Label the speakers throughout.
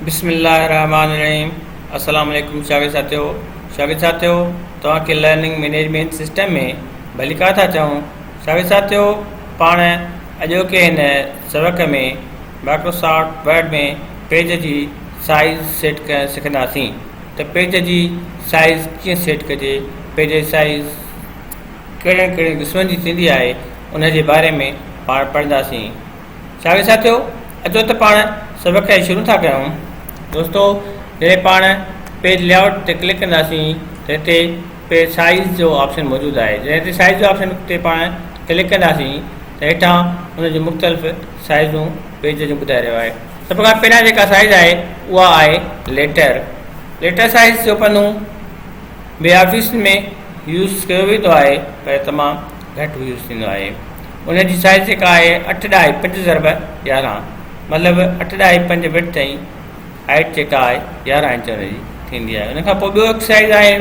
Speaker 1: بسم الله الرحمٰن الرحيم السلام عليڪم شاگرد ساٿيو شاگرد ساٿيو توهان کي لرننگ مينيجمينٽ سسٽم ۾ ڀليڪار ٿا چئون شاگرد ساٿيو پاڻ اڄوڪي هن سبق ۾ مائڪروسافٽ ورڊ ۾ پيج جي سائيز سيٽ ڪرڻ سکنداسين ته پيج جي سائيز ڪيئن سيٽ ڪجي پيج جي سائيز ڪهڙين ڪهڙين قسمن جي ٿيندي آهي ان جي باري ۾ پاڻ پڙهنداسين ساڳيو ساٿيو اچو ته پاڻ سبق کي شروع ٿا ڪيون دوستو جڏهن پاڻ پيج لي آؤٽ تي ڪلڪ ڪنداسين ته هتي پيج سائيز جو آپشن موجود آهي جڏهن هتي سائيز جو آپشن تي پاڻ ڪلڪ ڪنداسين ته هيٺان ان جون مختلف سائيزون پيج جون ٻڌائي رهيو آهي سڀ کان پهريان جيڪا سائيز آهي اها آهي ليٽر ليٽر سائيز جو پنو ٻي آفيس ۾ يوز ڪيو ويندو آهي پر تمام گهٽ يوز ٿيندو آهي ان جي سائز جيڪا آهي اٺ ڏهائي پنج ضرب يارهن مطلب اٺ ڏهائي پنج وٽ تائين هائيٽ جيڪا آهي يارهن انچ ان جي ٿيندي آهي ان کان پوء ٻيو هڪ سائز آهي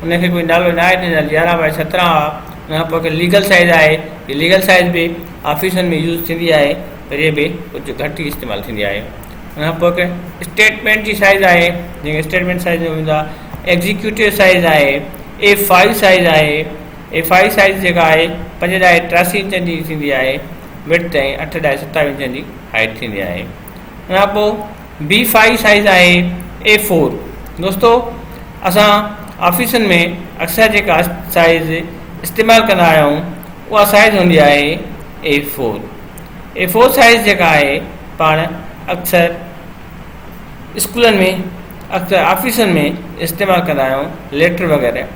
Speaker 1: ان کي کوئی نالو ناهي ڏنل يارهن بائي سترهن آ ان کان پوء ليگل سائز آهي هي ليگل سائز به آفيسن ۾ يوز ٿيندي آهي پر هي به ڪجهه گهٽ ئي استعمال ٿيندي آهي ان کان پوء اسٽيٽمنٽ جي سائز آهي جنهن کي اسٽيٽمنٽ سائز چئبو هوندو آهي ايگزيڪيوٽو سائز آهي اي فائيو سائز آهي ايف آء سائيز جيڪا آهي پنج ڏائي ٽياسي انچن جي ٿيندي آهي وڊٿ ۽ اٺ ڏائي ستاوي انچن جي هائيٽ ٿيندي آهي ان کان پوء بي فائي سائيز آهي اي فور دوستو اسان آفيسن ۾ اڪثر جيڪا سائيز استعمال ڪندا آهيون اها سائيز هوندي آهي A four A four size جيڪا آهي پاڻ اڪثر اسڪولن ۾ اڪثر آفيسن ۾ استعمال ڪندا آهيون ليٽر وغيره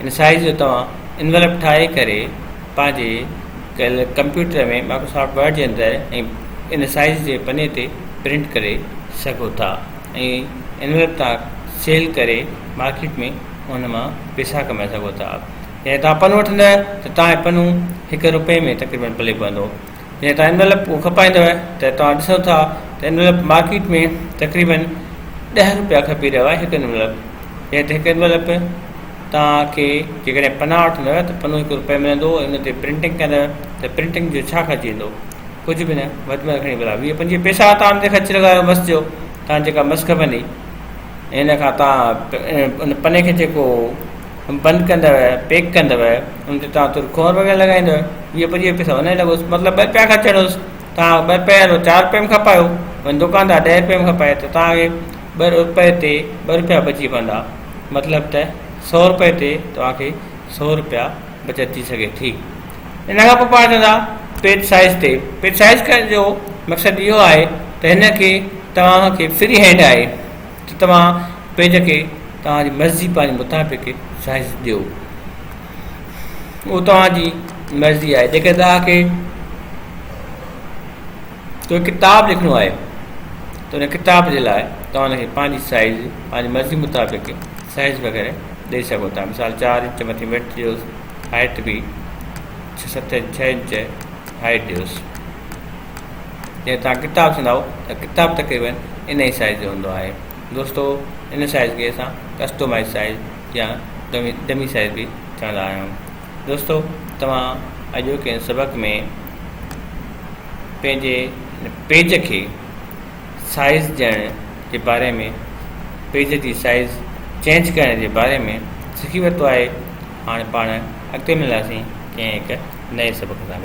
Speaker 1: ان سائيز جو توهان انويلپ ٺاهي ڪري پنهنجي ڪل ڪمپيوٽر ۾ مائڪروسافٽ ورڊ جي اندر ۽ ان سائيز جي پني تي پرنٽ ڪري سگهو ٿا ۽ انويلپ توهان سيل ڪري مارڪيٽ ۾ ان مان پيسا ڪمائي سگهو ٿا جڏهن توهان پنو وٺندا ته توهان جو پنو هڪ روپئي ۾ تقريبن پلي پوندو جيئن توهان انويلپ ڪو کپائيندؤ ته توهان ڏسو ٿا ته انويلپ مارڪيٽ ۾ تقريبن ڏهه رپيا کپي رهيو آهي هڪ انويلپ جنهن تي هڪ انويلپ توهان کي جيڪڏهن پنا وٺندؤ ته پنو هڪ رپئي ملندو ان تي پرنٽنگ ڪندؤ ته پرنٽنگ جو ڇا خرچ ايندو ڪجهه به نه وڌ ۾ وڌ کڻي ڀلا ويهه پنجويهه پئسا توهان ان تي خرچ لڳايو مس جو توهان جيڪا مس کپندي ان کان توهان ان پني کي جيڪو بند ڪندؤ، پيڪ ڪندؤ، ان تي توهان ترڪون ۽ رپيا لڳائيندؤ، ويهه پنجويهه پئسا ان ۾ لڳوس، مطلب ٻه رپيا خرچڻ هئس، توهان ٻه رپيا يا چار رپيا ۾ کپايو، وڃي دڪاندار ڏهه رپيا ۾ کپائي ته توهان کي ٻه رپئي تي ٻه رپيا بچي پوندا، مطلب ته سؤ رپئي تي توهان کي سؤ رپيا بچت ٿي سگهي ٿي. ان کان پوء پاڻ چوندا پيج سائيز تي، پيج سائيز جو مقصد اهو آهي ته هن کي توهان کي فري هينڊ آهي، ته توهان پيج کي توهان جي مرضي پنهنجي متحفي کي سائيز ڏيو اهو توهان جي مرضي آهي جيڪڏهن توهان کي ڪو ڪتاب لکڻو آهي ته ان ڪتاب جي لاء توهان ان کي پنهنجي سائيز پنهنجي مرضي مطابق سائيز وغيره ڏيئي سگهو ٿا مثال چار انچ مٿي ويڊ ڏيوس هائيٽ به ست ڇهه انچ هائيٽ ڏيوس جڏهن توهان ڪتاب سنداؤ ته ڪتاب تقريبن ان ئي سائيز جو هوندو آهي دوستو ان سائيز کي اسان ڪسٽومائيز سائيز يا ڊمي ڊمي سائيز به چوندا آهيون دوستو توهان اڄوڪي ان سبق ۾ پنهنجي پيج کي سائيز ڏيڻ جي باري ۾ پيج جي سائيز چينج ڪرڻ جي باري ۾ سکي ورتو آهي هاڻي پاڻ اڳتي ملنداسين ڪنهن هڪ نئين سبق سان گڏ